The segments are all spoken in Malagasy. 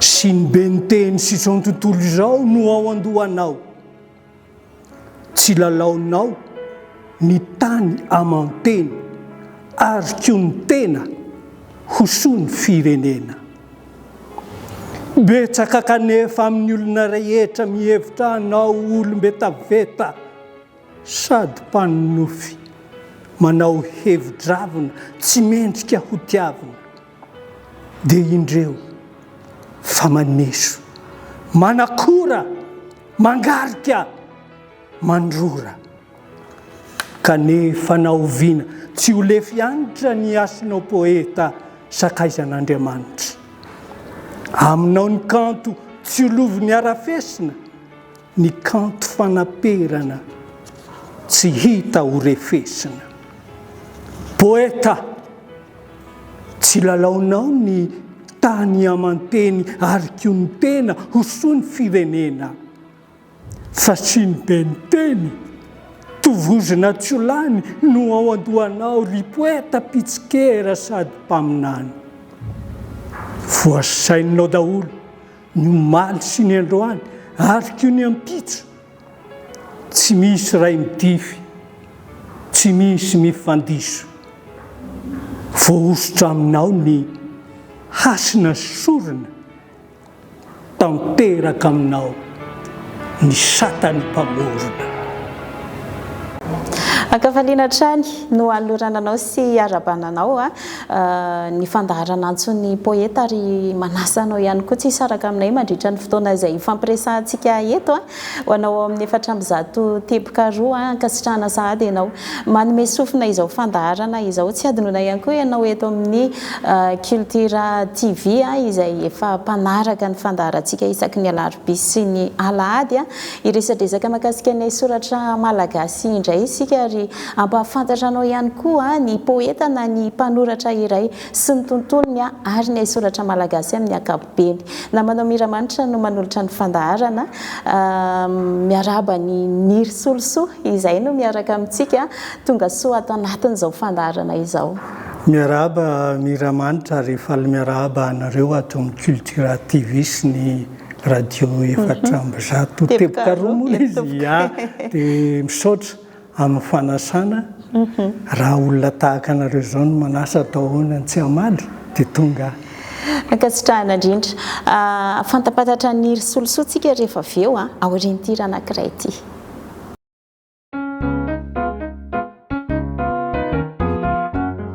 sy ny ben'ny teny sy izao tontolo izao no ao an-dohanao. Tsy lalaonao ny tany aman-teny ary koa ny tena ho soa ny firenena. Betsaka kanefa amin'ny olona rehetra mihevitra anao ho olom-betaveta sady mpanonofy, manao hevi-dravina tsy mendrika ho tiavina. dia indreo fa maneso, manakora, mangarika, mandrora. Kanefa na oviana, tsy ho lefy anitra ny hasinao poeta sakaizan'Andriamanitra. Aminao ny kanto tsy ho lovin'ny harafesina, ny kanto fanaperana tsy hita ho refesina. Poeta! Tsy lalaonao ny tany aman-teny ary koa ny tena ho soa ny firenena. Fasiany be ny teny, tovozina tsy ho lany no ao an-dohanao ry poeta mpitsikera sady mpaminany. Voasaininao daholo ny omaly sy ny androany ary koa ny ampitso Tsy misy ray midify, tsy misy mifandiso. Voahosotra aminao ny hasina sy sorona, tanteraka aminao ny satan'ny mpamorona. Ankafaliana hatrany no anolorana anao sy iarahabana anao ny fandaharana antsoin'ny poeta ary manasa anao ihany koa tsy hisaraka aminay mandritra ny fotoana izay hifampiresahantsika eto a! ho anao ao amin'ny efatra amby zato teboka roa a! ankasitrahana sahady ianao manome sofina izao fandaharana izao, tsy hadinoina ihany koa ianao eto amin'ny culture TV a! izay efa mpanaraka ny fandaharantsika isaky ny alarobia sy ny alahady a! hiresadresaka mahakasika ny haisoratra malagasy indray isika ary Hampahafantatra anao ihany koa ny poeta na ny mpanoratra iray sy ny tontolony ary ny haisoratra malagasy amin'ny ankapobeny. Namanao Miramanitra no manolotra ny fandaharana. Miarahaba an'i Niry Solosoa izay no miaraka amintsika. Tongasoa ato anatin'izao fandaharana izao. Miarahaba Miramanitra ary faly miarahaba anareo ato amin'ny Cultura TV sy ny Radio efatra amby zato teboka roa moa izy. Dia misaotra. amin'ny fanasana, raha olona tahaka anareo izao no manasa atao ahoana ny tsy hamaly? Dia tonga aho. Ankasitrahana indrindra. Ahafantampatatra ny risolosoantsika rehefa avy eo aorian'ity hira anankiray ity.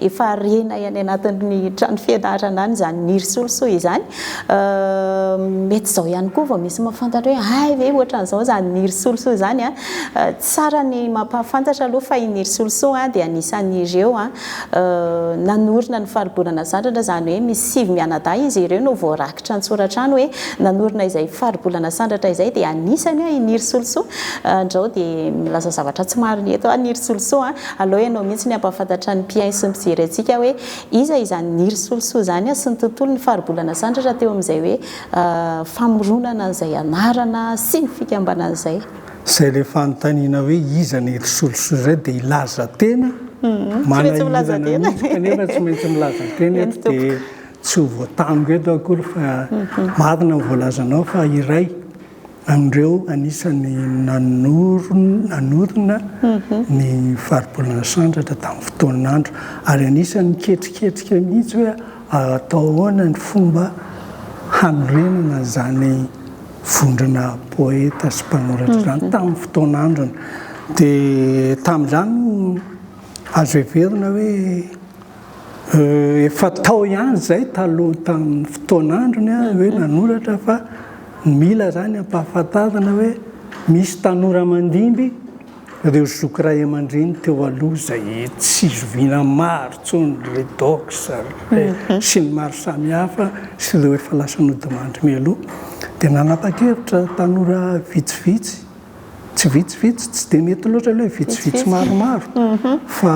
Efa harenay any anatin'ny trano fianarana any izany ny risolosoa izany. Mety izao ihany koa vao misy mahafantatra hoe hay ve ohatran'izao izany ny risolosoa izany an! Tsara ny mampahafantatra aloha fa iny risolosoa dia anisan'ireo nanorina ny faribolana sandratra, izany hoe misy sivy mianadahy izy ireo no voarakitra an-tsoratra any hoe nanorina izay faribolana sandratra izay dia anisany an i Ny Risolosoa. Andrao dia milaza zavatra tsy marina eto aho Ny Risolosoa an! Aleo ianao mihitsy ny hampahafantatra ny mpihaino sy ny mpijery antsika hoe iza izany Niry Solosoa izany sy ny tontolon'ny faribolana sandratra teo amin'izay hoe famoronana an'izay anarana sy ny fikambanana izay. Izay ilay fanontaniana hoe iza Niry Solosoa izay dia hilaza tena manahirana mihitsy kanefa tsy maintsy milaza tena eto dia tsy ho voatango eto akory fa marina ny voalazanao fa iray amin'ireo anisan'ny nanorina ny Faribolana Sandratra tamin'ny fotoan'andro ary anisan'ny niketriketrika mihitsy hoe atao ahoana ny fomba hanorenana an'izany vondrona poeta sy mpanoratra izany tamin'ny fotoan'androny. Dia tamin'izany no azo heverina hoe. Efa tao ihany izay taloha tamin'ny fotoan'androny hoe nanoratra fa mila izany ampahafantarina hoe misy tanora mandimby ireo zoky ray aman-dreny teo aloha izay tsy zoviana maro intsony, ry Redox, ry sy ny maro samihafa sy ireo efa lasa nodimandry mialoha. Dia nanapa-kevitra tanora vitsivitsy. tsy vitsivitsy, tsy dia mety loatra ilay vitsivitsy maromaro fa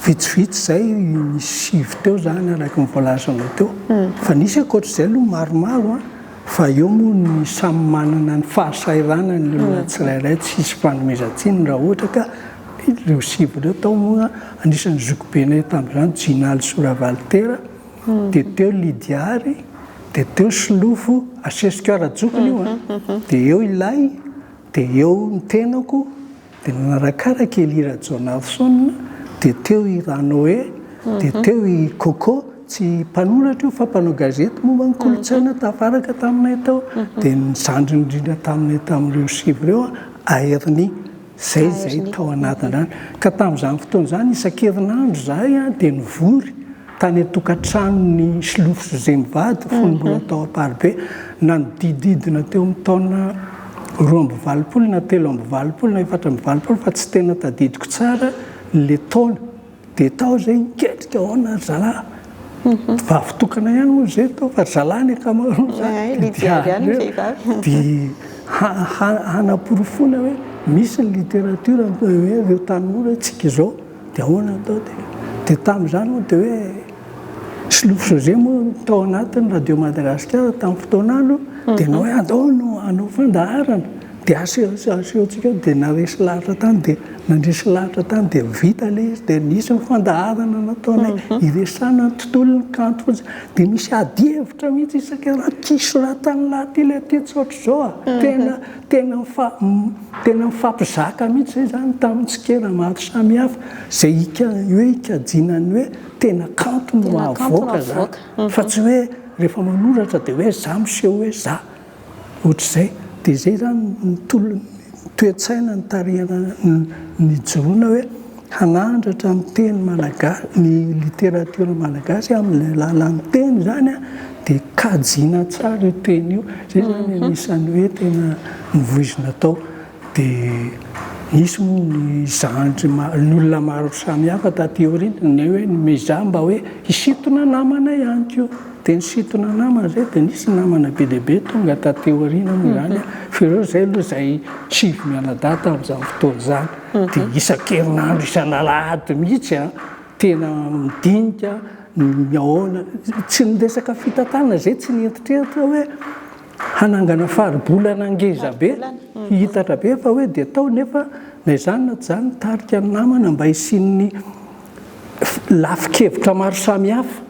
vitsivitsy izay sivy teo izany araka ny voalazanao teo. Fa nisy ankoatr'izay aloha maromaro fa eo moa ny samy manana ny fahasahiranany ny olona tsirairay tsy hisy fanomezan-tsiny raha ohatra ka ireo sivy ireo tao moa anisan'ny zokibenay tamin'izany Jinali Soravalitera, Dia teo Lydia ary dia teo Solofo asesiko ara-jokiny io a! Dia eo ilay dia eo ny tenako dia nanarakaraka i Elie Rajaonarison dia teo i Ranoe dia teo i Coco tsy mpanoratra io fa mpanao gazety momba ny kolontsaina tafaraka taminay tao dia ny zandriny indrindra taminay tamin'ireo sivy ireo a! Aerni Izay izay tao anatin'ny rano. Ka tamin'izany fotoana izany, isan-kerinandro izahay dia nivory tany an-tokantranon'i Slofo José mivady, fony mbola tao Amparibe, nanodididina teo amin'ny taona roa amby valopolo na telo amby valopolo na efatra amby valopolo fa tsy tena tadidiko tsara ilay taona. Dia tao zay niketrika aona ry zalahy, vavy tokana ihany moa zay tao fa ry zalahy ny akamaroany zany, dia hanaporofoana hoe misy ny littérature hoe reo tanora hoe tsika izao dia ahoana atao dia tamin'izany moa dia hoe. Solofo José moa tao anatin'ny Radio Madagasikara tamin'ny fotoana any dia nanao hoe andao no hanao fandaharana dia asehontsika dia naresy lahatra tany dia nandresy lahatra tany dia vita ilay izy dia nisy ny fandaharana nataonay hiresahana ny tontolon'ny kanto fotsiny dia misy ady hevitra mihitsy isaka raha ity hisoratan'ny lahaty ilay ity tsy ohatr'izao a! tena tena tena mifampizaka mihitsy izay izany tamin'ny tsikera maro samihafa izay hoe hikajiana ny hoe Tena kanto no havoaka za fa tsy hoe rehefa manoratra dia hoe za miseho hoe za. Ohatr'izay. Dia izay izany ny tolon'ny toe-tsaina nitarihana nijoroana hoe hanandratra ny teny malagasy, ny literatiora malagasy amin'ny alalan'ny teny izany dia kajiana tsara io teny io. Izay izany anisan'ny hoe tena novoizina tao. Dia nisy moa ny zandry maro, ny olona maro samihafa taty aoriana, ny hoe nomezaha mba hoe hisintona namana ihany koa. Dia nisintona namana izay, dia nisy namana be dia be tonga taty aoriana moa izany fa ireo izay aloha izay sivy mianadahy tamin'izany fotoana izany. Dia isan-kerinandro, isan'alahady mihitsy tena midinika ny ahoana, tsy ny resaka fitantanana izay tsy niheritreritra hoe. Hanangana faribolana ngezabe, hihitatra be fa hoe dia tao nefa na izany na tsy izany nitarika ny namana mba hisian'ny lafi-kevitra maro samihafa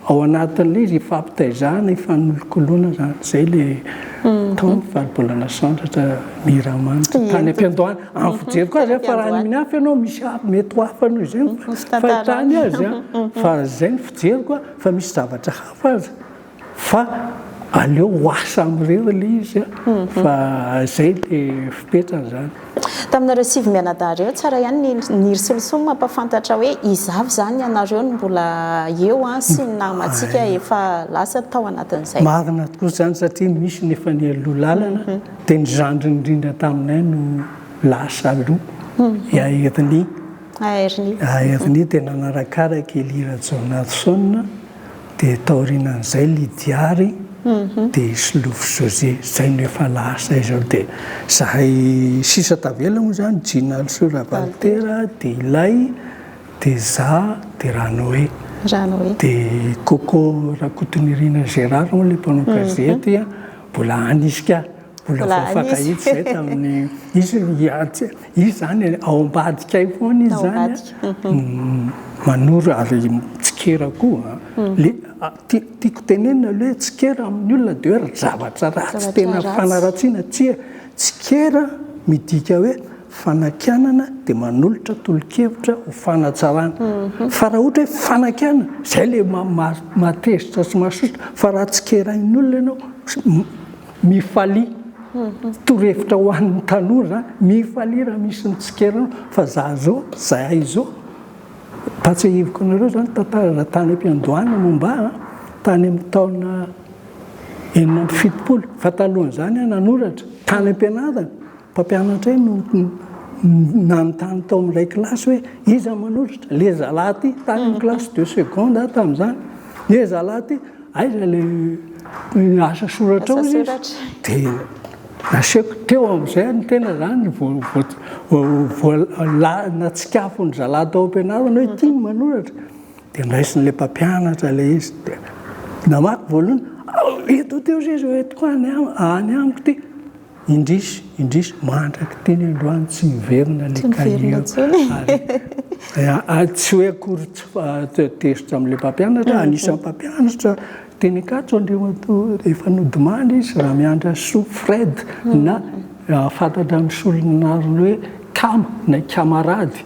ao anatin'ilay izy, hifampitaizana, hifanolokoloana izany. Izay ilay tao ny faribolana sandratra Miramanitra tany am-piandohana. Amin'ny fijeriko azy, fa raha ny mihafy ianao misy hafa, mety ho hafa noho izay ny fahitany azy, fa izay ny fijeriko fa misy zavatra hafa aza. Fa aleo ho asa amin'ireo aloha izy fa izay ilay fipetrany izany. Taminareo sivy mianadahy ireo, tsara ihany ny Nir Soloson mampafantatra hoe izavy izany ianareo no mbola eo sy ny namantsika efa lasa tao anatin'izay. Marina tokoa izany satria nisy ny efa nialoha lalana dia ny zandriny indrindra taminay no lasa aloha, i Aernia. Aernia. Aernia dia nanarakaraka i Lira Jonasson. Dia taorinan'izay Lidiary dia i Solofo José. Izay no efa lasa izao. Dia izahay sisa tavela moa izany, Jinalso Ravalitera, dia ilay, dia izaho, dia Ranoé. Ranoé. Dia Coco Rakotonirina Gérard moa ilay mpanao gazety, mbola any izy ka. Mbola Mbola voafakahitsy anisy. izay tamin'ny izy ia- tsy- izy izany ao ambadikay foana izy Ao izany ambadika, an. Manoro ary tsikera koa an. Le a- ti- tiako tenenina aloha hoe tsikera amin'ny olona dia hoe ry zavatra ratsy Zavatra tena ratsy. fanaratsiana tsia. Tsikera midika hoe fanakianana dia manolotra tolo-kevitra ho fanatsarana. Fa raha ohatra hoe fanakianana izay ilay ma- ma- mahatezitra sy mahasosotra fa raha tsikerain'ny olona ianao Mifalia torohevitra ho an'ny tanora za, mifalia raha misy mitsikera anao fa za zao, za izao. Mba tsiahiviko anareo zany tantarana tany am-piandohana momba ahy tany amin'ny taona enina amby fitopolo fa talohan'izany aho nanoratra tany am-pianarana. Mpampianatra iray no nanontany tao amin'ilay kilasy hoe, Iza manolotra? Ilay zalahy ity, tany amin'ny kilasy de seconde aho tamin'izany. Ilay zalahy ity, aiza ilay asa soratrao? hoy izy. Dia nasehoko teo amin'izay ny tena izany vao natsikafon'ny zalahy tao am-pianarana hoe ity ny manoratra. Dia ndraisin'ilay mpampianatra ilay izy dia namaky voalohany, Eto, teo sisa, eto koa, any amiko ity. Indrisy, indrisy, mandraky teny androany tsy miverina ilay kahie. Tsy miverina intsony. Tsy hoe akory tsy tezitra amin'ilay mpampianatra, anisan'ny mpampianatra teny Ankatso Andriamatoa efa nodimandry izy, Ramiandrasoa Fred na fantatra amin'ny solon'anarany hoe Kama na i Kamarady.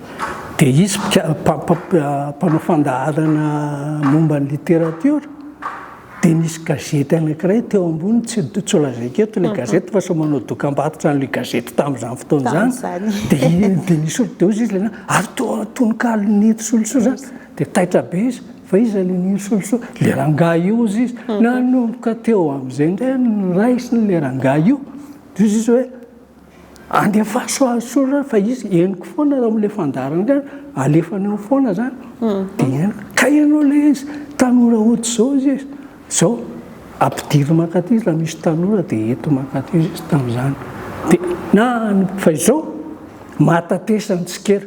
Dia hisy mpanao fandaharana momba ny literatiora, dia nisy gazety anankiray teo ambony, tsy lazaiko eto ilay gazety fa sao manao dokam-barotra an'ilay gazety tamin'izany fotoana izany, dia ny soratra dia hoy izy ilay naha, ary toa tononkalon'i Neny Solosoa izany, dia taitra be izy, fa iza ilay Neny Solosoa? Ilay rangahy io hozy izy, nanomboka teo amin'izay indray no noraisiny ilay rangahy io, dia hozy izy hoe. Andefaso azy tsory zany fa izy henoko foana raha olona efa andaharana alefany ao foana zany dia henoko. Ka ianao ilay izy tanora hody izao izy izao ampidiriny mankaty izy raha misy tanora dia ento mankaty izy izy tamin'izany dia na fa izao mahatatesa ny tsikera.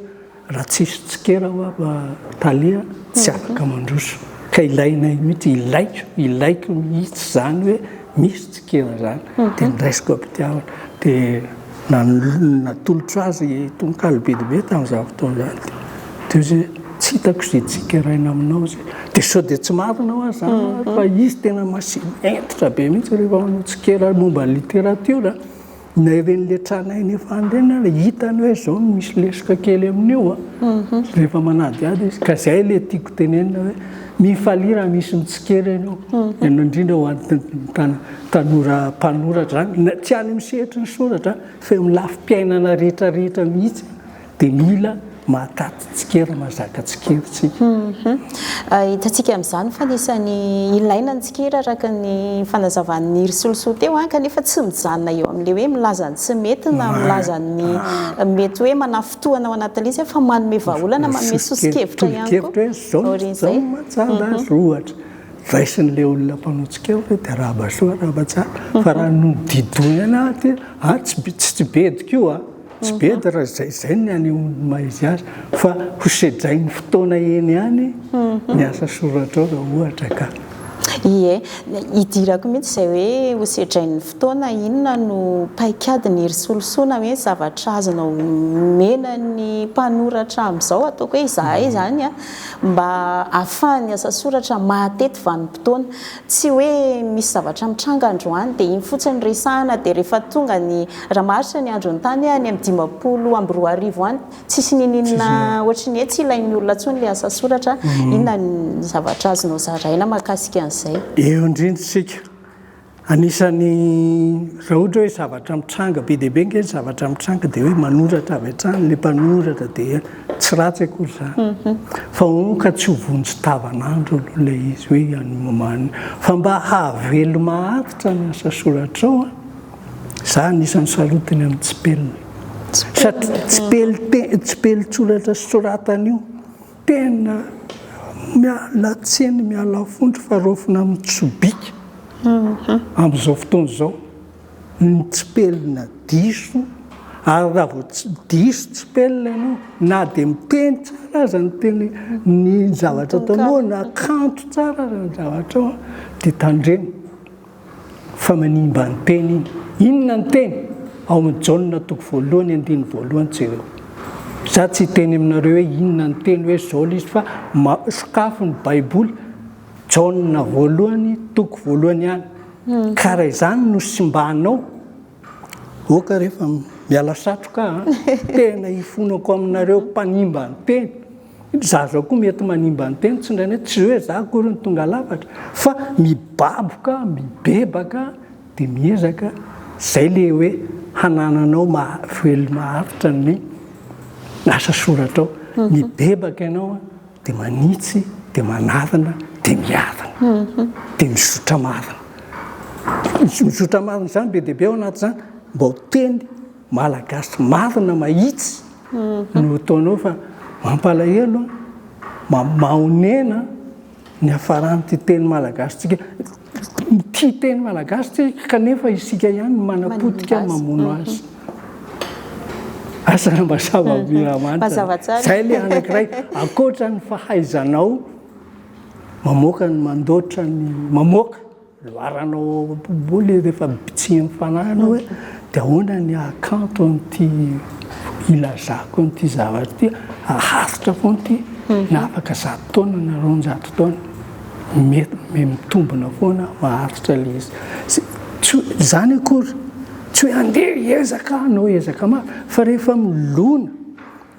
Raha tsisy tsikera hoa ba Thalia tsy afaka mandroso ka ilainay mihitsy, ilaiko, ilaiko mihitsy izany hoe misy tsikera izany dia niraisiko am-pitiavana dia nanolo, natolotro azy tononkalo bedibe tamin'izany fotoana izany dia teo izy hoe tsy hitako izay tsikeraina aminao izay dia sao dia tsy marina hoa izany ary fa izy tena masi, hentitra be mihitsy rehefa manao tsikera momba ny literatiora. Naeven'ny letranay nefa andreny ary hitany hoe zao no misy lesoka kely amin'io a. Rehefa manadihady izy. Ka zay le tiako tenenina hoe mifalia raha misy mitsikera ianao. Ianao indrindra ho an'ny tan- tanora mpanoratra zany. Tsy any amin'ny sehatry ny soratra fa eo amin'ny lafim-piainana rehetra rehetra mihitsy. dia mila mahataty tsikera, mahazaka tsikera isika. Hitantsika amin'izany fa anisan'ny ilaina ny tsikera araka ny fanazavan'i Risolosoa teo kanefa tsy mijanona eo amin'ilay hoe milaza ny tsy mety na milaza ny mety hoe manafintohina ao anatin'ilay izy fa manome vahaolana, manome soso-kevitra ihany koa. Tolo-kevitra hoe izao, izao no mahatsara azy ohatra. Raisin'ilay olona mpanao tsikera hoe dia arahaba soa, arahaba tsara fa raha nodidohina aty hoe, a, tsy tsy bediko io a! Tsy be dia raha izay izay ny hanehoan'ny maha izy azy fa ho sedrain'ny fotoana eny ihany ny asa soratrao raha ohatra ka. Ie, idirako mihitsy izay hoe ho sedrain'ny fotoana, inona no paikadiny ry solosona hoe zavatra azonao omena ny mpanoratra amin'izao ataoko hoe izahay izany mba ahafahan'ny asa soratra mahatety vanim-potoana. Tsy hoe misy zavatra mitranga androany dia iny fotsiny no resahana dia rehefa tonga ny, raha maharitra ny andron'ny tany any amin'ny dimampolo amby roa arivo any tsisy ninininona ohatry ny hoe tsy ilain'ny olona intsony ilay asa soratra, inona ny zavatra azonao zaraina mahakasika an'izay? Eo indrindra isika, anisan'ny raha ohatra hoe zavatra mitranga be dia be ange ny zavatra mitranga dia hoe manoratra avy hatrany ilay mpanoratra dia. Tsy ratsy akory izany fa hono ka tsy ho vonjy tavan'andro aloha ilay izy hoe hianmany fa mba hahaveloma aritra ny asa soratrao a! Za anisan'ny salotiny amin'ny tsipelina satria tsipelin-teny, tsipelin-tsoratra soratana io tena miala tsiny, miala fondro fa raofina amin'ny sobika amin'izao fotoana izao. ny tsipelina diso ary raha vao diso tsipelina ianao na dia miteny tsara aza ny teny ny zavatra ataonao na kanto tsara aza ny zavatrao dia tandremo fa manimba ny teny iny inona ny teny ao amin'ny jaona toko voalohany andiny voalohany jereo za tsy hiteny aminareo hoe inona ny teny hoe zao izy fa sokafo ny baiboly jaona voalohany toko voalohany ihany Ka raha izany no simbanao, ok re fa miala satroka a! Tena hifonako aminareo mpanimba ny teny. Zaza koa mety manimba ny teny tsindrainay, tsy hoe za akory no tonga lafatra fa mibaboka, mibebaka dia miezaka, zay le hoe hanananao maha-velona maharitra ny asa soratrao. Mibebaka ianao Dia manitsy, dia manarina, dia miarina, dia mizotra marina. Ny mizotra marina izany be dia be ao anatin'izany, mba ho teny malagasy marina mahitsy no ataonao fa mampalahelo an, mahonena ny hafaran'ity teny malagasintsika. Tia teny malagasy tsika kanefa isika ihany no manapotika mamono azy. Asa mazava be ramanitra. Zay ilay anankiray ankoatra ny fahaizanao mamoaka ny mandoatra ny mamoaka loharanao ao am-poboly rehefa bitsihin'ny fanahy ianao hoe dia ahoana ny hahakanto an'ity ilazako an'ity zavatra ity, haharitra foana ity na afaka zato taona na roanjato taona. mety mitombona foana maharitra ilay izy. Tsy izany akory, tsy hoe andeha hiezaka hanao ezaka mafy, fa rehefa milona,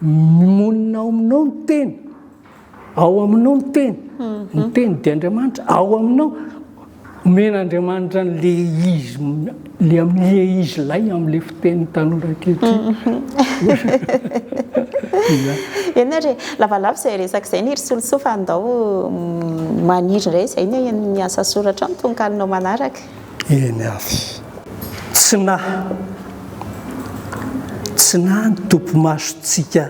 monina ao aminao ny teny, ao aminao ny teny, ny teny dia Andriamanitra, ao aminao, Omen'Andriamanitra an'ilay izy, ilay amin'ilay izy lahy amin'ilay fitenin'ny tanora ankehitriny. Eny re, lavalava izay resaka izay ny ry Solosoa fa andao maniry indray izay ny ny asa soratrao, ny tononkalonao manaraka. Eny ary. Tsy nahy, tsy nahy ny tompo masontsika.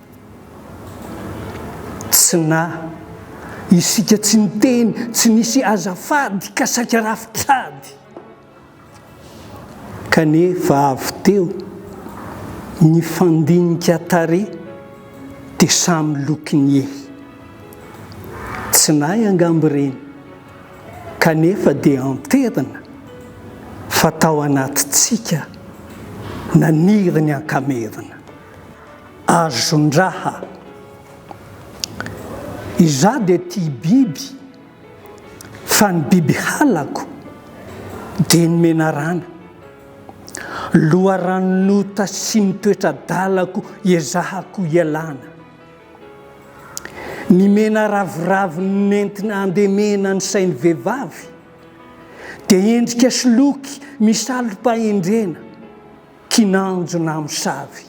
Tsy na. Isika tsy niteny, tsy nisy azafady ka saika rafitr'ady. Kanefa avy teo, nifandinika tarehy dia samy lo kiniehy. Tsy nahy angamba ireny, kanefa dia enterina fa tao anatintsika naniry ny ankamerina. Azon-draha. Izaho dia tia biby fa ny biby halako dia ny menarana. Loharanon'ota sy ny toetra-dalako iezahako ialana. Ny mena ravoravo nentina andemena ny sain'ny vehivavy dia endrika sy loky misalompahendrena, kinanjo na mosavy.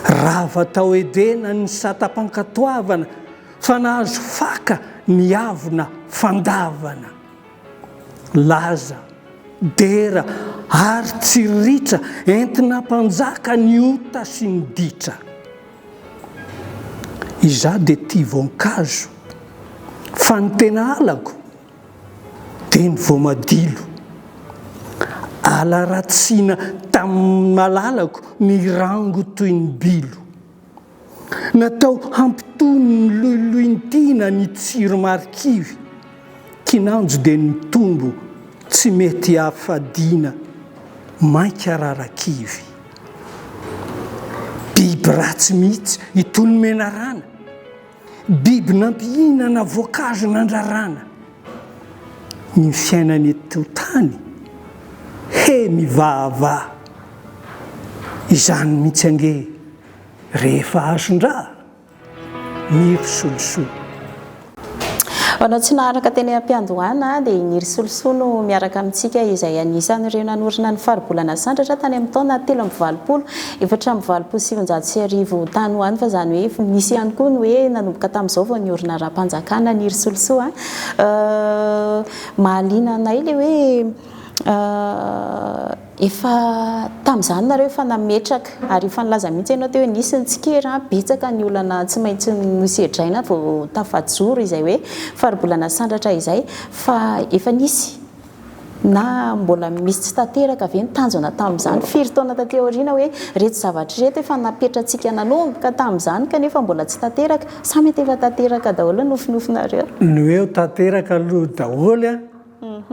Rava tao Edena ny satam-pankatoavana fa nahazo faka ny avona fandavana. Laza, dera ary tsy ritra entina mpanjaka ny ota sy ny ditra. Izaho dia tia voankazo fa ny tena halako Teny voamadilo. Ala ratsina tamin'ny malalako mirango toy ny bilo. Natao hampitony ny loiloin-tiana ny tsiro marikivy. Kinanjo dia nitombo tsy mety hafadiana, mainka rarakivy. Biby ratsy mihitsy itony menarana. Biby nampihinana voankazo nandrarana ny fiainany eto tany, he mivahavaha izany mihitsy ange rehefa azon-dra ny ry solosoa. Hoanao tsy naharaka teny am-piandohana dia i Niry Solosoa no miaraka amintsika izay anisan'ireo nanorina ny Faribolana Sandratra tany amin'ny taona telo amby valopolo Efatra amby valopolo sy sivinjato sy arivo tany ho any fa izany hoe efa nisy ihany koa ny hoe nanomboka tamin'izao vao niorina rahampanjakana ny Irisolosoa an! mahaliana anay ilay hoe efa tamin'izany nareo efa nametraka ary efa nilaza mihitsy ianao teo hoe nisy ny tsikera an! betsaka ny olana tsy maintsy nosedraina vao tafajoro izay hoe faribolana sandratra izay fa efa nisy Na mbola misy tsy tanteraka ve ny tanjona tamin'izany firy taona taty aoriana hoe ireto zavatra ireto efa napetratsika nanomboka tamin'izany kanefa mbola tsy tanteraka sa mety efa tanteraka daholo ny nofinofinareo? Ny hoe tanteraka aloha daholo an,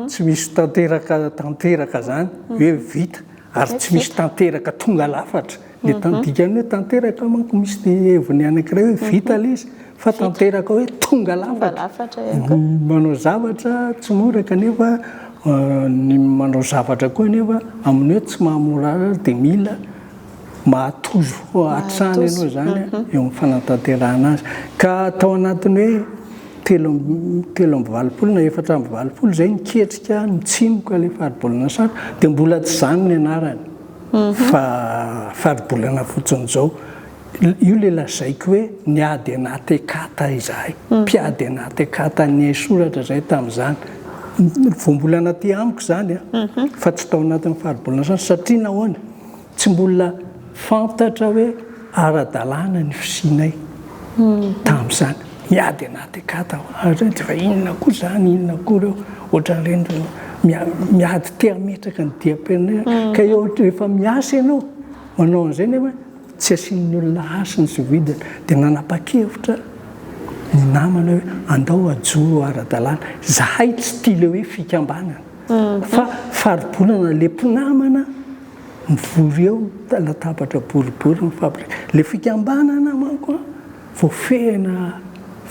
tsy misy tanteraka tanteraka izany hoe vita ary tsy misy tanteraka tonga lafatra. Ny mhm. dikan'ny hoe tanteraka manko misy ny heviny anankiray hoe vita ilay mhm. izy fa tanteraka hoe tonga lafatra manao zavatra tsy mora kanefa euh, ny manao zavatra koa nefa amin'ny hoe tsy mahamorara dia mila mahatozo fo hatrany ianao zany mhm. eo amin'ny fanatanterahana azy ka atao anatiny hoe telo telo amby valopolo na efatra amby valopolo zay niketrika mitsimoka le faribolana satra dia mbola tsy zany ny anarany fa faribolana fotsiny izao. Io ilay lazaiko hoe niady anaty ekata izahay. Mpiady anaty ekata niaisoratra izahay tamin'izany. Voambolana aty amiko izany fa tsy tao anatin'ny faribolana satria nahoana? Tsy mbola fantatra hoe. Ara-dalàna ny fisianay tamin'izany. Niady anaty akata aho. Ary fa inona koa izany, inona koa ireo ohatran'ireny miady te hametraka ny diam-pirenena. Ka eo rehefa miasa ianao, manao an'izay nefa tsy asian'ny olona hasiny sy vidiny. Dia nanapa-kevitra ny namana hoe andao hajoro ara-dalàna. Izahay tsy tia ilay hoe fikambanana fa faribolana ilay mpinamana. Mivory eo latabatra boribory ny fabrika. Ilay fikambanana manko an, voafehina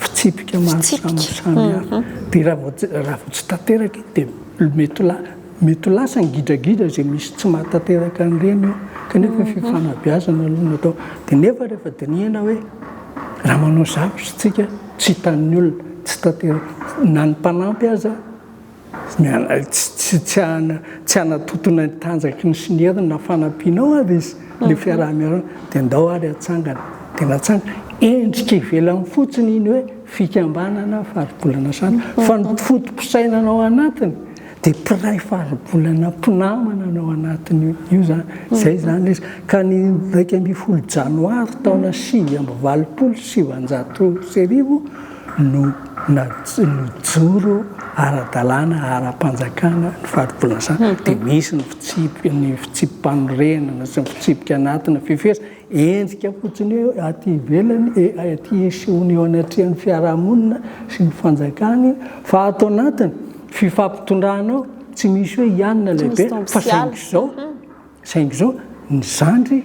fitsipika maro samihafa. Dia raha vao tsy, raha vao tsy tanteraka iny dia mety ho lasa, mety ho lasa ny gidragidra izay misy tsy mahatanteraka an'ireny eo. Kanefa fifanabeazana aloha no atao. Dia nefa rehefa dinihina hoe, raha manao zavatra isika tsy hitan'ny olona, tsy tanteraka. Na ny mpanampy aza. Tsy hanatontona ny tanjaky ny siniry na fanampianao ary izy, ilay fiaraha-miarahana, dia ndao ary hatsangana. Dia natsangana. Endrika ivelany fotsiny iny hoe fikambanana Faribolana Sandratra, fa ny foto-pisainana ao anatiny dia mpiray Faribolana mpinamana no ao anatin'io. Io izany. Izay izany ilay izy. Ka ny iraika ambin'ny folo janoary taona sivy amby valopolo sy sivinjato sy arivo, no nijoro ara-dalàna ara-panjakana ny fari-pilasana dia misy ny fitsipika ny fitsipi-panorenana sy ny fitsipika anatina fifeheza endrika fotsiny hoe aty ivelany e aty esehoany eo anatrehan'ny fiarahamonina sy ny fanjakany fa ato anatiny fifampitondrana ao tsy misy hoe ianona lehibe fa saingy izao Saingy izao, ny zandry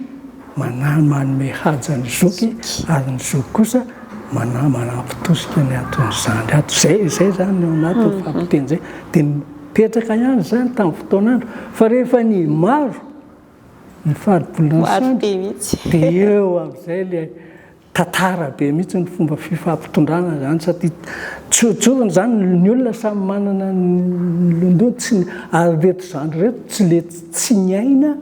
manahy manome haja ny zoky ary ny zoky kosa manahy manampy tosika ny anton'ny zandry ato. Izay izay izany ny ao anatin'ny fahapotehan' izay. Dia nipetraka ihany izany tamin'ny fotoan'andro. Fa rehefa ny maro ny faribolana ny sampy, dia eo amin'izay ilay Tantara be mihitsy ny fomba fifampitondrana zany satria tsoritsoriny zany ny olona samy manana ny londoiny tsy ary reto zandry reto tsy le tsy miaina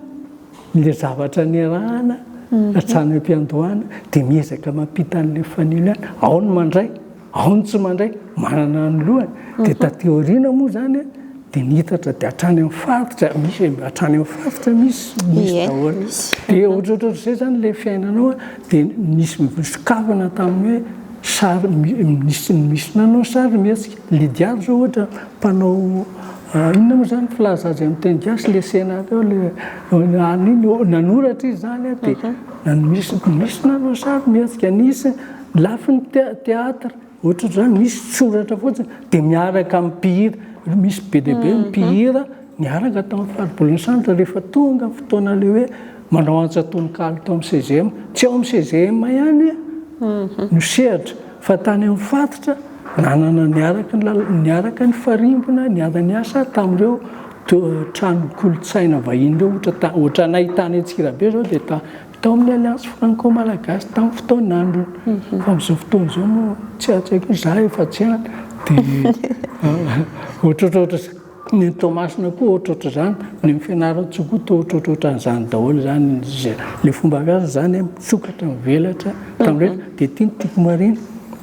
le zavatra niarahana hatrany ampiandohana de miezaka mampita anle fanilo ihany ao ny mandray Ao ny tsy mandray, manana ny lohany, dia taty aoriana moa izany dia niitatra dia hatrany amin'ny faritra, misy hatrany amin'ny faritra misy, misy daholo. Dia ohatrohatr'izay izany ilay fiainanao dia nisy sokafana tamin'ny hoe sary misy misy nanao sarimihetsika. Lydia izao ohatra mpanao inona moa izany filaza azy amin'ny teny gasy ilay senateur ilay nanoratra izy izany dia misy nanao sarimihetsika, nisy Lafiny theatre ohatrozany misy soratra fotsiny de miaraka am mpihira, misy be dia be ny mpihira niaraka tam faribolon'i Centre rehefa tonga fotoana le hoe manao antsa tononkalo tao am CGM, tsy ao am CGM ihany no sehatra fa tany am faritra nanana niaraka niaraka nifarimbona niara niasa tamreo trano kolontsaina vahiny reo ohatra ohatranay tany antsirabe zao de Tao amin'ny Alliance Franco-Malagasy tamin'ny fotoan'andro. Fa amin'izao fotoana izao moa tsy hain-tsaiko hoe za efa tsy any dia ohatrohatr'ohatra izany. Ny an'i Toamasina koa ohatrohatr'izany, ny an'i Fianarantsoa koa toa ohatrohatr'ohatran'izany daholo izany. Ilay fomba fiasa izany hoe misokatra, mivelatra tamin'ireny. Dia ity ny tiako marihina,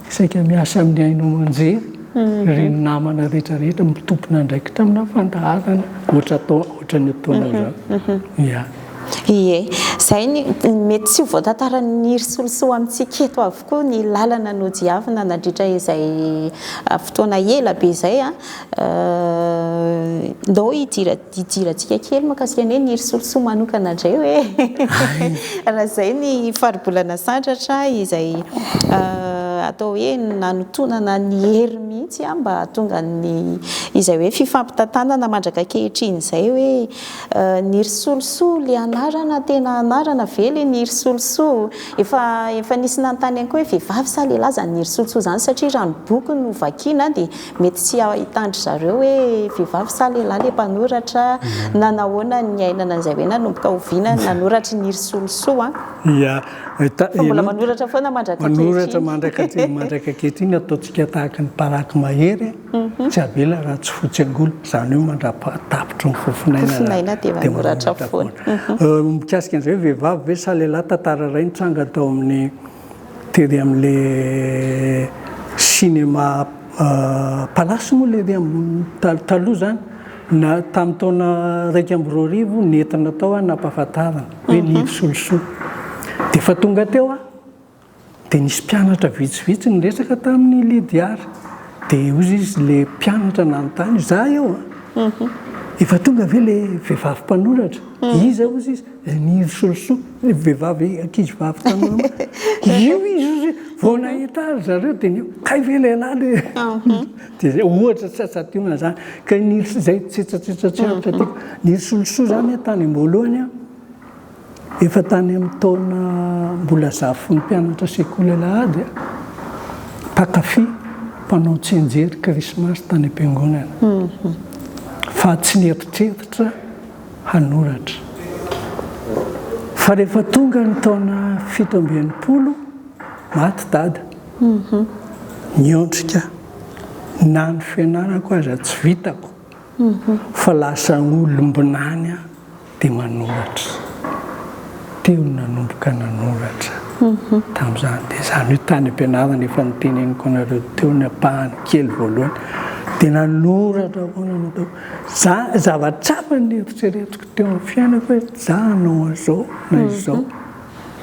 saika miasa amin'ny haino aman-jery ireny namana rehetrarehetra mitompina andraikitra amina fandaharana ohatran'ny ataonao izao. Ie, izay ny mety tsy ho voatantarain'ny ry solosoa amintsika eto avokoa ny lalana nodiavina nandritra izay fotoana ela be izay an! Ndao hidirantsika kely mahakasika ny hoe ny ry solosoa manokana indray hoe raha izay ny Faribolana Sandratra izay atao hoe nanotonana ny hery mihitsy mba hahatonga ny izay hoe fifampitantanana mandrak'ankehitriny izay hoe Nirisolisolo le anarana tena anarana ve le Nirisolisò? Efa efa nisy nanontany ihany koa hoe vehivavy sa lehilahy zany Nirisolisò zany satria raha ny boky no vakiana dia mety tsy ahitan-dry zareo hoe vehivavy sa lehilahy le mpanoratra na nahoana ny niainana an'izay hoe nanomboka oviana ny nanoratry Nirisolisò an? Ia, ta-, Fa mbola manoratra foana mandrak'ankehitriny. Manoratra mandrak'ankehitriny, ataontsika tahaka ny paraky mahery. Tsy avela raha tsy fotsy angola, izany hoe mandra-paha-tapitry ny fofonainana dia manoratra foana. Mikasika an'izay hoe vehivavy ve sa lehilahy, tantara iray nitranga tao amin'ny tery amin'ilay cinéma Palace moa ilay taloha taloha izany na tamin'ny taona iraika amby roa arivo nentina tao aho nampahafantarina hoe Nivo Solosoa. Dia efa tonga teo aho Dia nisy mpianatra vitsivitsy niresaka tamin'i Lydiard. Dia hoy izy, ilay mpianatra nanontany, Izaho eo an! Efa tonga ve ilay vehivavy mpanoratra? Iza hozy izy? Ilay nirosorosoa, ilay vehivavy ankizivavy tanora maro. Io izy hozy e! Vao nahita ry zareo dia nihoa, Kay ve ilay lahy le? Dia izay, ohatra tsy hahatsadiona izany. Kay nirosorosoa, izay tsetsatsetsa tsy aritra tiako. Nirosorosoa izany aho tany am-boalohany an! Efa tany amin'ny taona mbola zafifin'ny mpianatra sekoly alahady aho, mpankafy mpanao tsianjery Krismasy tany am-piangonana, fa tsy nieritreritra hanoratra. Fa rehefa tonga ny taona fito amby enimpolo, maty dada. Niondrika, na ny fianarako aza tsy vitako. Fa lasa olombinany aho dia manoratra. Teo no nanomboka nanoratra tamin'izany. Dia izany hoe tany am-pianarana efa noteneniko anareo teo ny ampahany kely voalohany. Dia nanoratra aho foana no ataoko. Za, zava-tsarotra ny neritreretiko teo amin'ny fiainako hoe za hanao an'izao na izao.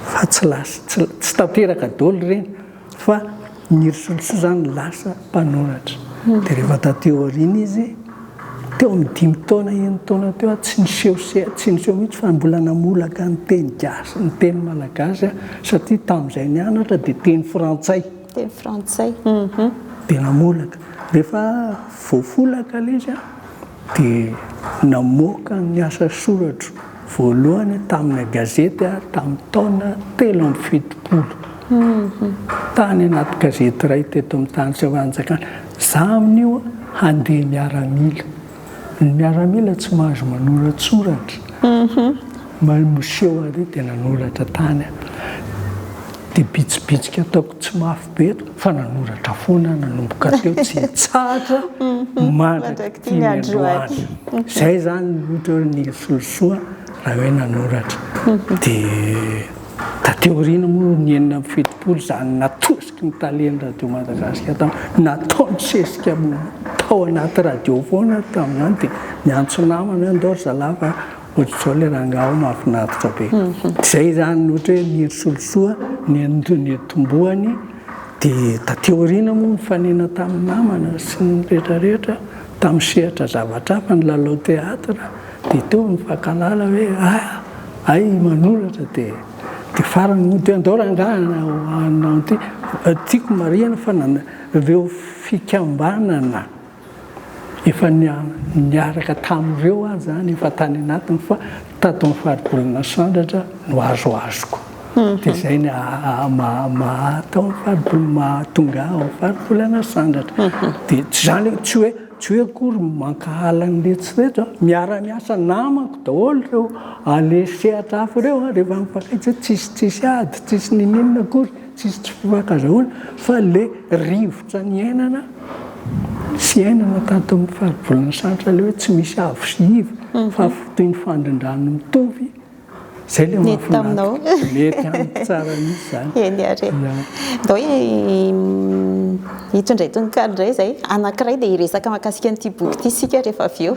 Fa tsy lasa, tsy tanteraka daholo ireny. Fa ny Risolosoa izany lasa mpanoratra. Dia rehefa taty aoriana izy, teo amin'ny dimy taona, enina taona teo, tsy niseho se, tsy niseho mihitsy fa mbola namolaka ny teny gasy, ny teny malagasy, satria tamin'izay nianatra dia teny frantsay. Teny frantsay. Dia namolaka. Rehefa voafolaka ilay izy dia namoaka ny asa soratro. Voalohany tamina gazety aho tamin'ny taona telo amby fitopolo, tany anaty gazety iray teto amin'ny tany tsy fanjakana. Za amin'io handeha miaramila. Ny miaramila tsy mahazo manoratsoratra. Mamoseho ary dia nanoratra tany aho. Dia bitsibitsika ataoko. Tsy mafy be eto fa nanoratra foana nanomboka teo tsy hitsahatra mandrakitia ny androany. Izay izany ohatra hoe ny solosoa raha hoe nanoratra. Dia taty aoriana moa ny enina amby fitopolo izany natosiky ny talen'ny Radio Madagasikara tamin'izany, nataony sesika tao anaty radio foana tamin'izany dia niantso namana hoe andao ry zalahy fa Ohatr'izao le rangahy ao mahafinaritra be. Zay zany ohatra hoe ny hery Solosoa nitomboany dia taty aoriana moa nifanena tamin'ny namana sy ny rehetra rehetra tamin'ny sehatra zavatra hafa ny lalao théâtre dia teo nifankalala hoe ah hay manoratra dia dia farany moa dia andao rangahy hanao ity tiako marihina fa avy eo fikambanana Efa niaraka tamin'ireo aho izany efa tany anatiny fa tato amin'ny faribolana Sandratra no azoazoko. Dia izay no maha atao ny faribolana, maha tonga ahy ao amin'ny faribolana Sandratra. Dia tsy izany hoe, tsy hoe, tsy hoe akory mankahala ny eritreritro aho. Miara miasa namako daholo ireo, aleha sehatra hafa ireo rehefa mifankaiza, tsisy tsisy ady, tsisy n'inon'inona akory. Tsisy tsy fo ankazahoana fa le rivotra niainana sy iainana taton'ny faribolan'i Santra le hoe tsy misy avo sy iva fa toy ny fandrindrano mitovy zay le mahafinaritra. Mety taminao. Mety amiko tsara mihitsy zany. Eny ary e. Ndao hoe hitondray tononkalo ndray zay, anakiray de hiresaka mahakasika an'ity boky ity sika rehefa avy eo.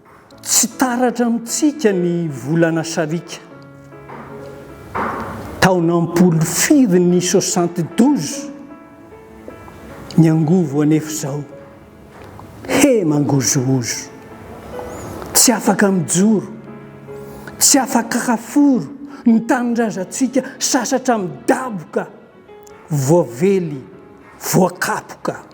Tsy taratra amintsika ny volana sariaka. Taona am-polo firy ny soixante douze? Ny angovo anefa izao, he mangozohozo. Tsy afaka mijoro, tsy afaka haforo ny tanindrazantsika sasatra midaboka, voavely, voakapoka.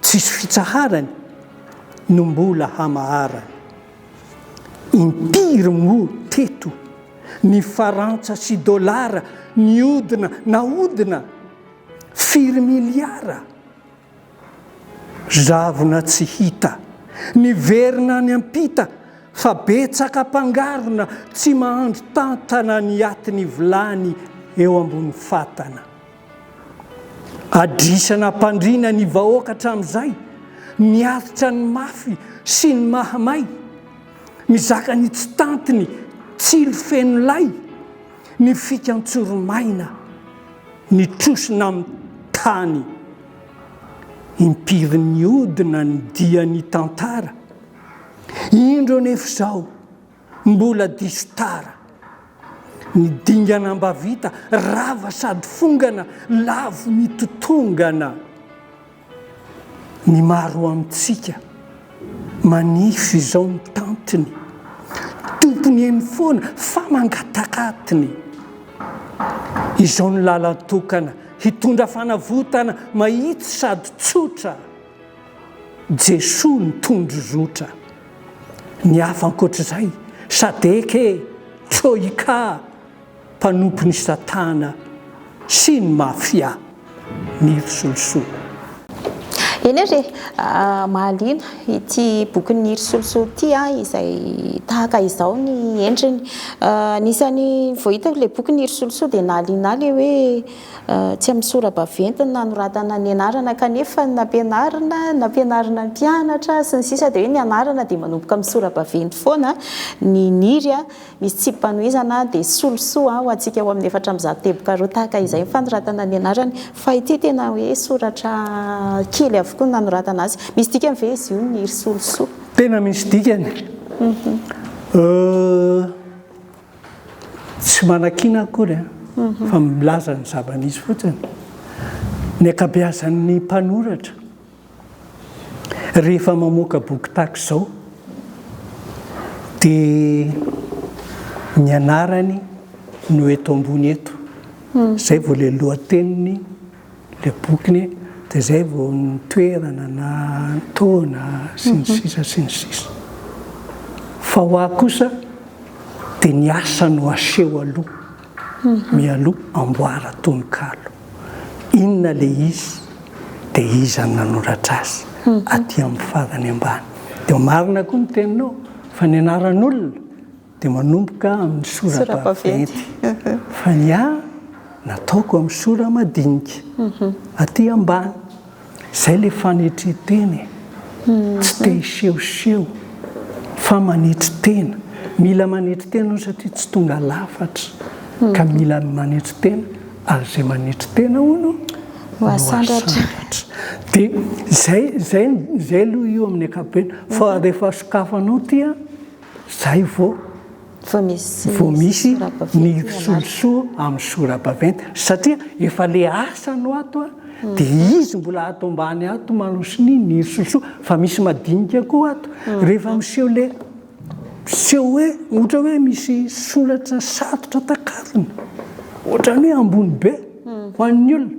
Tsisy fitsaharany no mbola hamaharany. Impiry moa teto ny farantsa sy dolara niodina nahodina? Firy miliara? Zavona tsy hita, niverina any am-pita fa betsaka mpangarona tsy mahandro tantana ny atin'ny vilany eo ambony fatana. Adrisa nampandriana ny vahoaka hatramin'izay, miaritra ny mafy sy ny mahamay, mizaka ny tsy tantiny, tsilo feno lay, ny fika an-tsoromaina, ny trosona amin'ny tany. Impiry niodina ny dian'ny tantara, indro anefa izao. Mbola diso tara ny dingana mba vita rava sady fongana lavo ny totongana ny maro amintsika manify izao ny tantiny tompony eny foana fa mangatakatiny izao ny lalan-tokana hitondra fanavotana mahitsy sady tsotra Jesoa ny tondro zotra. Ny hafa ankoatr'izay, sadec e, troika, mpanompon'i satana sy ny mafia. Mily solosoa. Eny ary e! Mahaliana ity bokin'i Mily solosoa ity izay tahaka izao ny endriny. Anisan'ny vao hitako ilay bokin'i Mily solosoa dia nahaliana ahy ilay hoe. Tsy amin'ny sora-baventy no nanoratana ny anarana kanefa ny nampianarina, nampianarina ny mpianatra, sy ny sisa Dia hoe ny anarana dia manomboka amin'ny sora-baventy foana, ny Niry misy tsipim-panohizana dia solosoa ho antsika ao amin'ny efatra amby zato teboka roa tahaka izay ny fanoratana ny anarany fa ity tena hoe soratra kely avokoa ny nanoratana azy. Misy dikany ve izy io Niry solosoa? Tena misy dikany. Euh. Tsy manakiana akory fa milaza ny zava-nisy fotsiny ny ankabeazan'ny mpanoratra rehefa mamoaka boky tahaka izao dia ny anarany no eto ambony eto. Izay vao ilay lohateniny. Ilay boky anie dia izay vao ny toerana na ny taona sy ny sisa sy ny sisa. Fa ho ahy kosa dia ny asa no aseho aloha mialoha amboara tononkalo. Inona ilay izy dia iza no nanoratra azy aty amin'ny farany ambany. Dia marina koa ny teninao fa ny anaran'olona. Dia manomboka amin'ny sora-baventy. Fa ny ahy, nataoko amin'ny sora-madinika. Aty ambany. Izay ilay fanetren-tena e. Tsy te hisehoseho, fa manetry tena. Mila manetry tena hono satria tsy tonga lafatra. Ka mila manetry tena, ary izay manetry tena hono no hasandratra. Dia izay, izay, izay aloha io amin'ny ankapobeny. Fa rehefa sokafanao ity an. Zay vo vo misy ny solosoa amin'ny sora-baventy satria efa le asa no ato a, de izy mbola ato ambany ato manosiny ny solosoa fa misy madinika koa ato, rehefa miseho le miseho hoe ohatra hoe misy soratra satotra takarina, ohatran'ny hoe ambony be ho an'ny olona.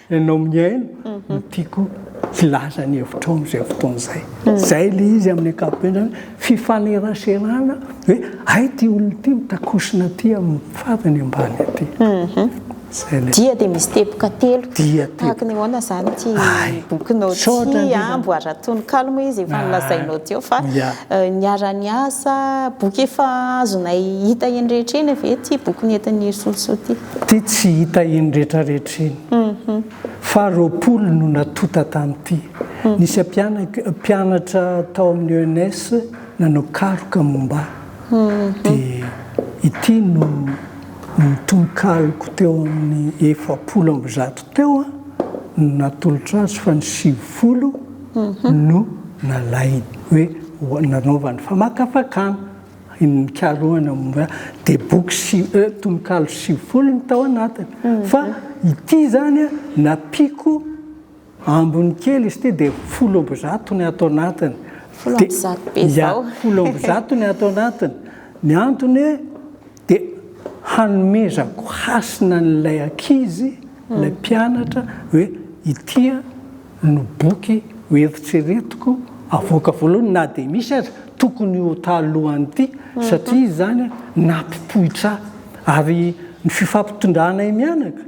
Ianao mihaino no tiako hilaza ny hevitrao amin'izay fotoana izay. Izay ilay izy amin'ny ankapobeny izany, fifaneraserana hoe hay ity olona ity mitakosona aty amin'ny fadiny ambany aty. Izay ilay. Dia dia misy teboka telo. Dia teboka. Tahaka ny ahoana izany ity bokinao ity? Misaotra indrindra. Amboaran-tononkalo moa izy efa nolazainao teo fa niara-ny asa, boky efa azonay hita eny rehetra eny ve ity boky nentin'i Hery Solosoa ity? Ty tsy hita iny retraretra iny. Faha roapolo no natota tamty. Nisy mpianatra tao amin'ny ENS nanao karoka momba ahy. Dia ity no tononkaloko teo amin'ny efapolo amby zato teo no natolotra azy fa ny sivifolo no nalainy. Hoe nanaovany famakafakana. Ny nikarohana momba dia boky si e tononkalo sivifolo ny tao anatiny. Fa ity izany nampiako ambiny kely izy ity dia folo amby zato ny ato anatiny. Folo amby zato be izao. Folo amby zato ny ato anatiny. Ny antony hoe. Dia hanomezako hasina an'ilay ankizy, ilay mpianatra, hoe ity no boky ho eritreretiko havoaka voalohany na dia misy aza, tokony ho talohan'ity, satria izany nampipoitra ahy. Ary ny fifampitondrahanay mianaka.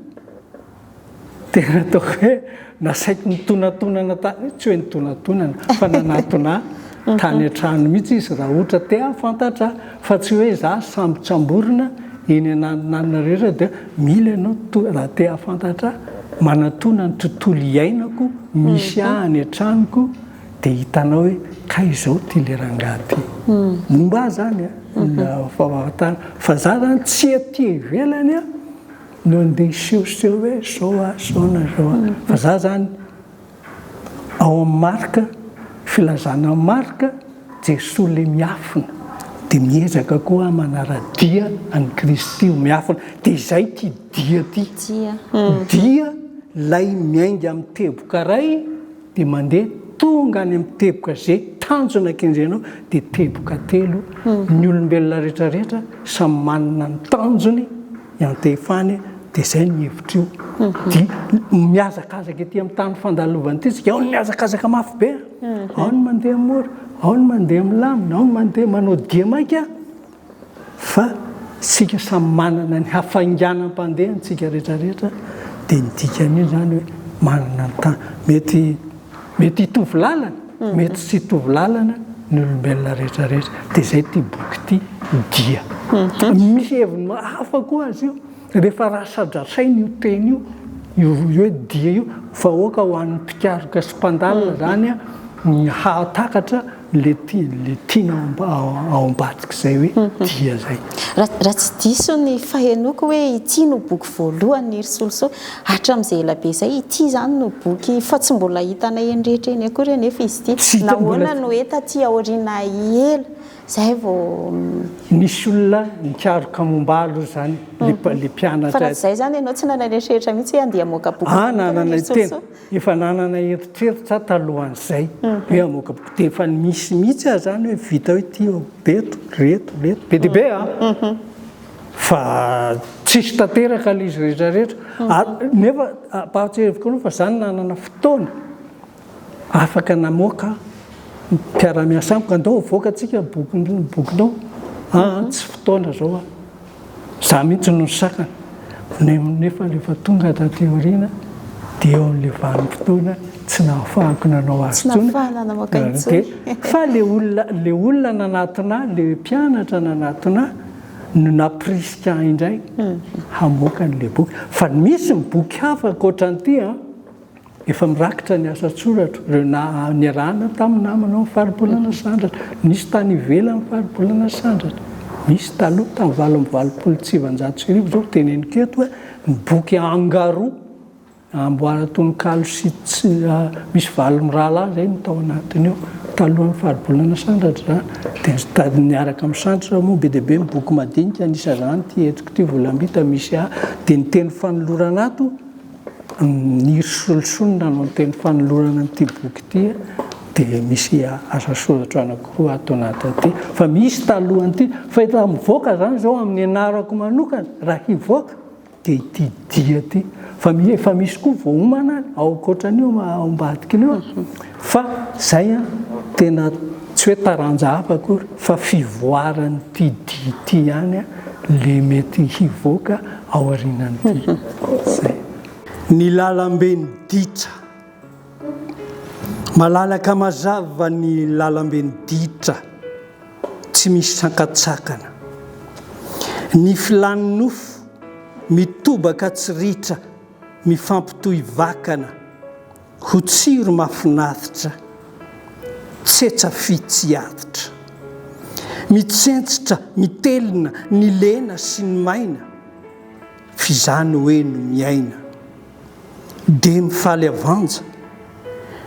Tena ataoko hoe nasaiko nitonatonana tany, tsy hoe nitonatonana fa nanatona ahy tany an-trano mihitsy izy raha ohatra te hahafantatra ahy fa tsy hoe za sambotsamborina eny ananonanona rehetra dia mila ianao to- raha te hahafantatra ahy manatona ny tontolo iainako misy ahy any an-tranoko dia hitanao hoe kay izao ity le rangahy ity momba ahy zany a, ny fahafatana fa za zany tsy aty ivelany a. no andeha hisehoseho hoe zao a zao na zao a fa za zany ao am marika filazana marika Jesoa le miafina de miezaka koa ah manaradia an'i Kristy ho miafina de izay ty dia ty dia lay miainga am teboka ray Dia mandeha tonga any amin'ny teboka ze tanjona kendrenao dia teboka telo ny olombelona rehetra rehetra samy manana ny tanjony iantefany dia zay ny hevitr'io dia mihazakazaka ety amin'ny tany fandalovana ity tsika ao ny mihazakazaka mafy be ao ny mandeha mora ao ny mandeha milamina ao ny mandeha manao dihy maika Fa isika samy manana ny hafainganam-pandeha ntsika rehetra rehetra dia ny dikan'io izany hoe manana ny tany. Mety mety hitovy lalana, mety tsy hitovy lalana ny olombelona rehetra rehetra. Dia izay ity boky ity dia. Misy heviny hafa koa azy io. Rehefa raha sadrasaina io teny io, io hoe dia io, vahoaka ho an'ny mpikaroka sy mpandalina izany ny hahatakatra ilay tiana ao ambadik'izay hoe dia izay. Raha tsy diso ny fahenoako hoe ity no boky voalohany ry Solosoa, hatramin'izay ela be izay, ity izany no boky fa tsy mbola hitanay eny rehetra eny akory anefa izy ity. Nahoana no hita aty aoriana ela? Zay vao. Nisy olona nikaroka momba ahy aloha izany le mpianatra. Fa raha tsy zay izany ianao tsy nanana eritreritra mihitsy hoe andeha hamoaka boky manokana ry Sosoa? Nanana tena, efa nanana eritreritra aho talohan'izay hoe hamoaka boky dia efa nisy mihitsy aho izany hoe vitao ity ô, eto, reto, reto, be dia be a! Fa tsisy tanteraka le izy rehetra rehetra ary nefa ampahatsiahiviko anao fa za nanana fotoana. Afaka namoaka mpiara-miasa amiko, andao avoaka tsika bokinao an, tsy fotoana zao an, za mihitsy no nisakana, nefa rehefa tonga taty aoriana dia eo amin'ilay vanim-potoana tsy nahafahako nanao azy intsony, fa le olona nanatona ahy, le mpianatra nanatona ahy no nampirisika ahy indray hamoaka an'ilay boky, fa misy ny boky hafa ankoatran'ity an. Efa mirakitra ny asa an-tsoratra ireo niarahana tamin'ny namana ao amin'ny Faribolana Sandratra. Nisy tany ivelan'ny Faribolana Sandratra. Nisy taloha, tamin'ny valo amby valopolo sy sivinjato sy arivo izao, ho teneniko eto hoe ny boky Angaro, amboaran-tononkalo sy misy valo mirahalahy izay no tao anatiny ao, talohan'ny Faribolana Sandratra izany. Dia niaraka amin'ny Sandratra moa be dia be ny boky madinika, anisan'izany ity entiko ity, Volambita, misy ahy. Dia ny teny fanolorana ato Ny ry solosonina no niteny fanolorana an'ity boky ity dia misy asa soratra anankiroa ato anatin'ity fa misy talohan'ity fa efa mivoaka izany izao amin'ny anarako manokana raha hivoaka dia ity dia ity fa efa misy koa voaomana ao ankoatran'io ao ambadik'ilay eo Fa zay an, tena tsy hoe taranja hafa akory fa fivoaran'ity dihy ity ihany an le mety hivoaka aorianan'ity. Zay. Ny lalamben'i Ditra. Malalaka mazava ny lalamben'i Ditra, tsy misy sakantsakana. Ny filàn'ny nofo mitobaka tsy ritra mifampitohy vakana. Ho tsiro mafinaritra, tsetsa fy tsy aditra. Mitsentsitra, mitelina, ny lena sy ny maina, f'izany hoe no miaina. Dia mifaly avanja,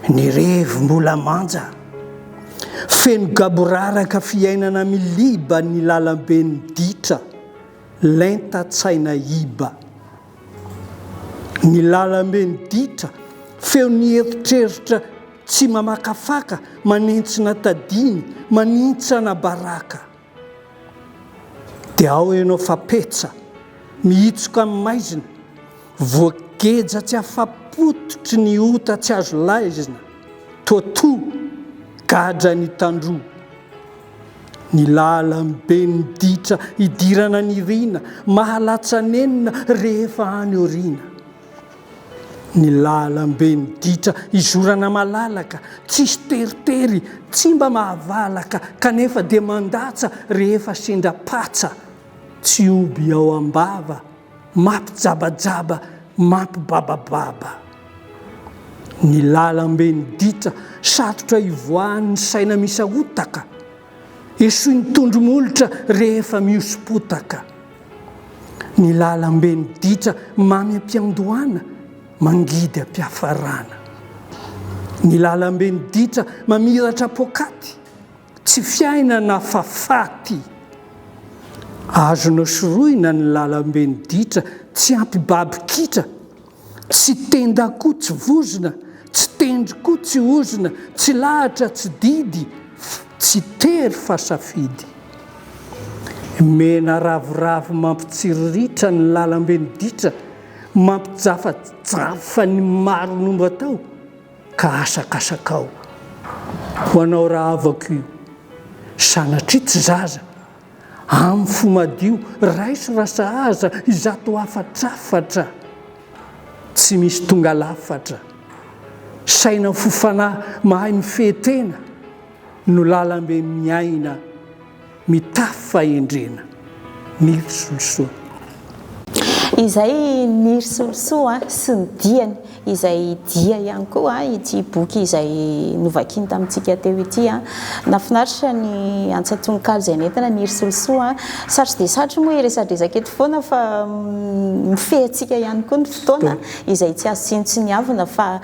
ny revy mbola manja. Feno gaboraraka fiainana miliba ny lalamben'ny ditra, lenta tsaina iba. Ny lalambe ny ditra, feo ny eritreritra tsy mamakafaka, manintsina tadiny, manintsana baraka. Dia ao ianao fa petsa, mihitsoka amin'ny maizina, voageja tsy afa-pototry ny ota tsy azo laizina, toatoa, gadra ny tandroa. Ny lalam-be ny ditra idirana nirina, mahalatsa-nenina rehefa any aoriana. Ny lalam-be ny ditra izorana malalaka, tsisy teritery, tsy mba mahavalaka kanefa dia mandatsa rehefa sendra patsa, tsy oby ao am-bava. Mampijabajaba mampibabababa ny lalamben'ny ditra satrotra hivoahan'ny saina misahotaka esoin'ny tondro molotra rehefa mihoso-potaka ny lalamben'ny ditra mamy am-piandohana mangidy am-piafarana ny lalamben'ny ditra mamiratra poakaty Tsy fiainana fa faty. Azonao sorohina ny lalambe ny ditra tsy ampy baby kitra tsy tenda koa tsy vozona tsy tendry koa tsy ozona tsy lahatra tsy didy tsy tery fa safidy mena ravoravo mampitsiriritra ny lalambe ny ditra mampijafajafa ny maro no mba tao ka asakasakao ho anao rahavako io sanatria tsy zaza amin'ny fo madio raiso raha sahaza izato hafatrafatra tsy misy tonga lafatra saina fo fanahy mahay mifehy tena no lalambe miaina Mitafy fahendrena ny Risolisoa. Izay ny Risolisoa sy ny diany, izay dia ihany koa ity boky izay novakiny tamintsika teo ity. Nahafinaritra ny antsa tononkalo izay nentina ny Risolisoa. Satry dia satry moa hiresadresaka eto foana fa mifehy antsika ihany koa ny fotoana izay tsy azo tsinotsiniavina fa.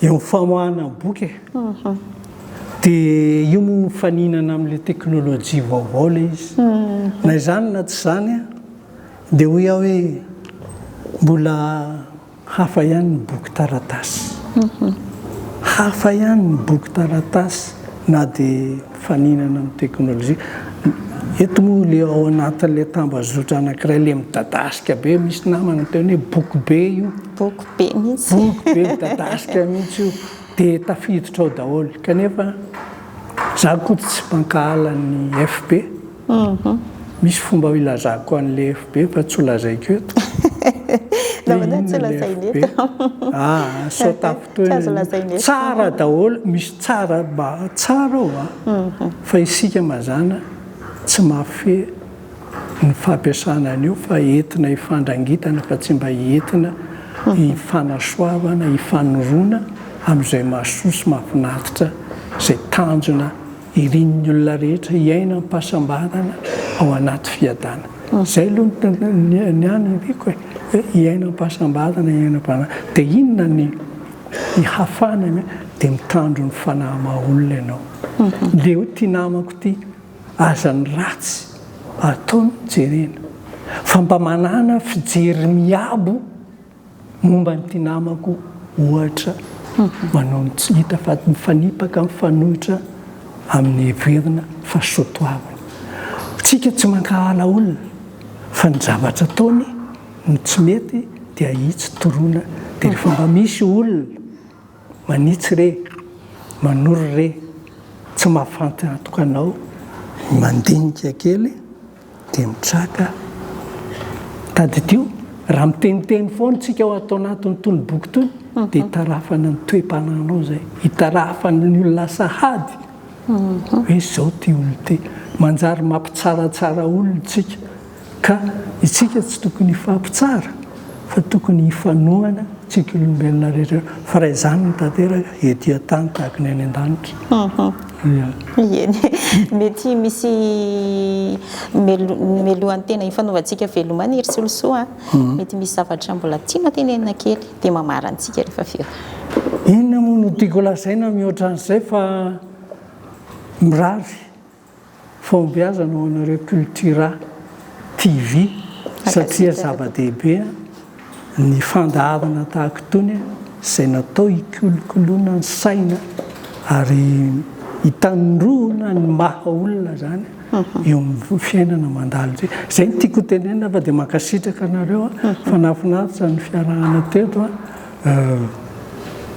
Eo amin'ny famoahana ny boky e. Dia io moa mifaninana amin'ilay teknolojia vaovao ilay izy. Na izany na tsy izany dia hoy aho hoe mbola hafa ihany ny boky taratasy. Hafa ihany ny boky taratasy na dia mifaninana amin'ny teknolojia. Eto moa ilay ao anatin'ilay tambazotra anankiray ilay midadasika be, misy namana niteny hoe boky be io. Boky be mihitsy. Boky be midadasika mihitsy io dia tafiditra ao daholo kanefa za akoto tsy mpankahala ny FB misy fomba ilazako anle FB fa tsy ho lazaiko eto dia inona le FB ah sao tafintohina ny tsara daholo misy tsara mba tsara ao fa isika mazana tsy mahafehy ny fampiasana an'io fa entina hifandrangitana fa tsy mba entina hifanasoavana, hifanoroana amin'izay mahasoa sy mahafinaritra izay tanjona irin'ny olona rehetra hiaina am-pahasambarana ao anaty fiadana. Izay aloha ny ahy no omeko e! Hoe hiaina am-pahasambarana, hiaina am-pahasambarana. Dia inona ny hafana? Dia mitandro ny fanahy maha-olona ianao. Leo ity namako ity. Aza ny ratsy atao no jerena fa mba manana fijery miabo momba an'ity namako ohatra manao ny tsy hita fa mifanipaka mifanohitra amin'ny heverina fa soatoavina. Tsika tsy mankahala olona fa ny zavatra ataony no tsy mety dia ahitsy toroana dia rehefa mba misy olona Manitsy re, manoro re, tsy mahafantantoka anao. Mandinika kely dia mitraka. Tadidio, raha miteniteny foana isika ao ato anatin'itony boky itony dia itarafana ny toe-panahinao izay, itarafana ny olona sahady hoe izao ity olona ity. Manjary mampitsaratsara olona isika. Ka itsika tsy tokony hifampitsara fa tokony hifanohana tsika olombelona rehetra fa raha izany no tanteraka ety an-tany tahaka ny any an-danitra. Ieny e! Mety misy melohan-tena ifanaovantsika veloma any ry Solosoa a! Mety misy zavatra mbola tiana tenenina kely dia mamarana antsika rehefa avy eo. Inona moa no tiako lazaina mihoatra an'izay fa mirary Fahombiazana ho anareo Cultura TV satria zava-dehibe ny fandahavana tahaka itony izay natao hikolokoloana ny saina ary hitandroana ny maha olona izany eo amin'ny fiainana mandalo izay. Izay no tiako hotenenina fa dia mankasitraka anareo fa nahafinaritra ny fiarahana teto.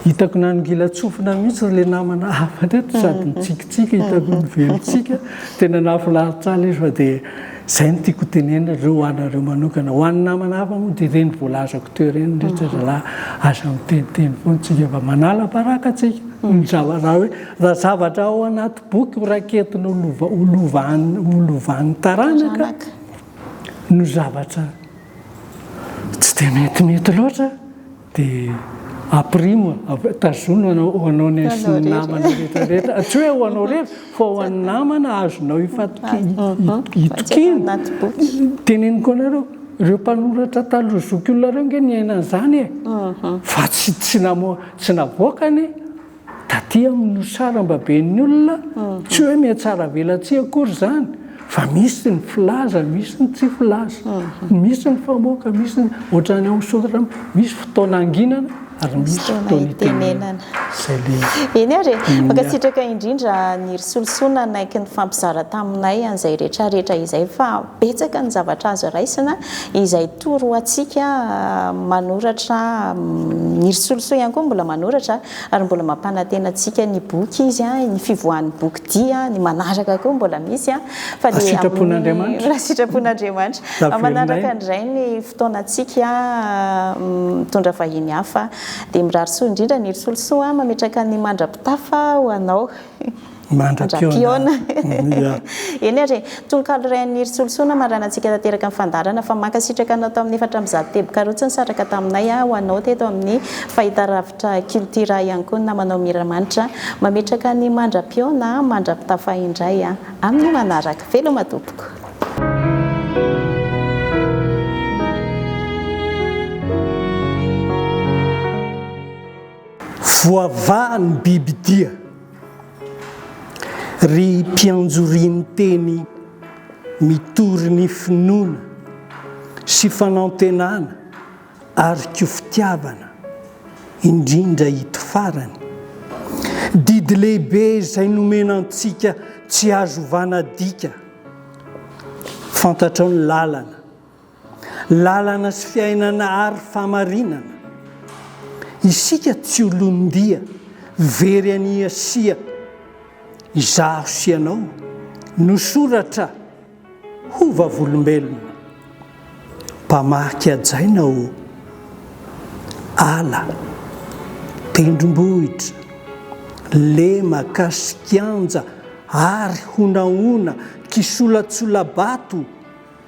Hitako nanongilan-tsofina mihitsy ry ilay namana hafa teto, sady nitsikitsiky, hitako nivelon-tsiky. Tena nahafinaritra ahy ilay izy fa dia izay no tiako hotenenina, ireo ho anareo manokana. Ho an'ny namana hafa moa dia ireny voalazako teo ireny, ry zalahy, aza miteniteny foana isika fa manala baraka isika. Ny zava, raha hoe, raha zavatra ao anaty boky ho raketiny ho lova, ho lovan'ny, ho lovan'ny taranaka, no zavatra tsy dia metimety loatra dia aprimo, tazono ho anao nefa sy ny namana rehetra rehetra, tsy hoe ho anao irery fa ho an'ny namana azonao itokiana, teneniko anareo ireo mpanoratra taloha zokiolona ireo ange niaina an'izany e! fa tsy navoakany Taty amin'ny nosy sarambaben'ny olona, tsy hoe mihatsaravelatsihy akory izany, fa misy ny filaza, misy ny tsy filaza, misy ny famoaka, misy ny ohatran'ny ao Soratr'Amiko, misy fotoana hanginana ary misy fotoana hitenenana. Izay ilay izy. Eny ary e! Mankasitraka indrindra Niry Solosoa nanaiky nifampizara taminay an'izay rehetrarehetra izay fa betsaka ny zavatra azo raisina izay Toro antsika manoratra, ny ry Solosoa ihany koa mbola manoratra ary mbola mampanantena antsika ny boky izy, ny fivoahan'ny boky dia ny manaraka koa mbola misy fa dia amin'ny raha sitrapon'Andriamanitra amin'ny manaraka indray ny fotoanantsika mitondra vahiny hafa dia mirary soa indrindra ny ry Solosoa mametraka ny mandra-pitafa ho anao. Mandra-pihaona. Eny ary, tononkalo iray an'i Niry Solosoana hamarana antsika tanteraka ny fandaharana fa mankasitraka anao tamin'ny efatra amby zato tebokarotsy nisaraka taminay aho, anao teto amin'ny Fahitalavitra Cultura ihany koa ny namanao Miramanitra. Mametraka ny mandra-pihaona mandra-pitafa indray amin'ny manaraka. Veloma tompoko. Voavaha ny bibidia. Ry mpianjo rinteny mitory ny finoana sy fanantenana ary ko fitiavana, indrindra ito farany, didy lehibe izay nomena antsika tsy azo vanadika, fantatrao ny lalana, Lalana sy fiainana ary famarinana. Isika tsy olon-dia very an'i Asia. Izaho sy ianao no soratra ho vavolombelona. Mpamaky hajaina ô! Ala, tendrombohitra, lemaka sy kianja ary honahona, kisolatsola-bato,